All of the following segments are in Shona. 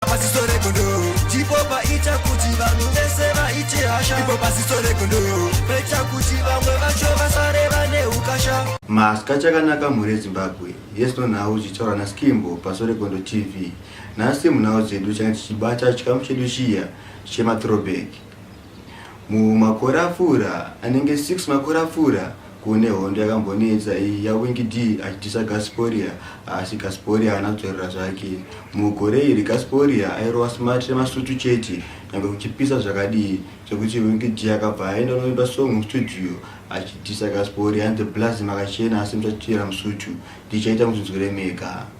Pasiso regondo ndipo paita kuti vanhu vese vaite hasha ipo pasiso regondo paita kuti vamwe vacho vasare vane ukasha maska chakanaka mhuri yezimbabwe yesno nhau zvichitaura naskimbo paso regondo tv nhasi munhau dzedu change tichibata chikamu chedu chiya chematrobek Mumakore apfuura, anenge 6 makore apfuura, kune hondo yakambonetsa iyi yaWinky Dee achitisa Gasporia asi Gasporia haana kudzorera zvake. Mugore iri Gasporia airova smart remasutu chete nyangwe kuchipisa zvakadii zvekuti Winky Dee akabva aenda kunoimba song mustudio achitisa Gasporia and the Blaz makachena asi muchachera musutu ndichaita muchinzwire mega.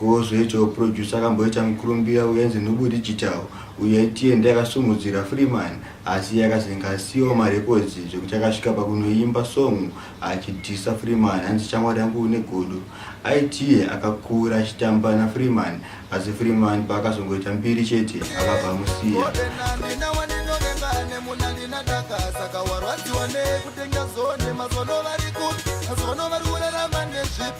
Gozwe icho producer akamboita mukurumbira uyenzi Nhubu Digital uyo itiye ndiye akasumudzira Freeman asi iye akazenge asiiwa marecords zvekuti akasvika pakunoimba song achidhisa Freeman hanzi shamwari yangu une godo. Aitiye akakura achitamba naFreeman asi Freeman paakazongoita mbiri chete akabva amusiya.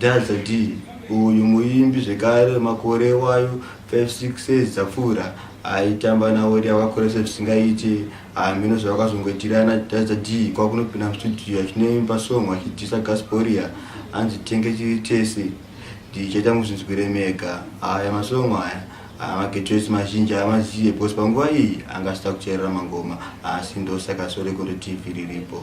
Dazza Dee, uyu muimbi zvekare wemakore iwayo 56 years dzapfuura aitamba naWorry akakuresa zvisingaite. Hameno zvavakazongoitirana Dazza Dee kwakunopinda mustudio achinoimba song achidhisa Gasporia anzi tenge chiri tese ndichaita muzvinzwire mega. Aya masong aya amagetwesi mazhinji haamazive because panguva iyi anga asita kucherera mangoma asi ndosaka sore kundoti tv riripo.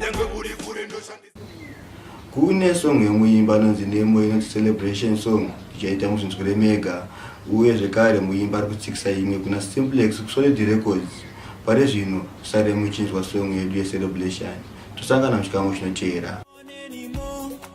nyangwe uri kure ndoshandisa kune song yemuimba anonzi nemo inonzi celebration song ichaita muzvinzwire mega uye zvekare muimba ari kutsikisa imwe kuna simplex kusolid records pari zvino sare muchinzwa song yedu yecelebration tosangana muchikamu chinoteera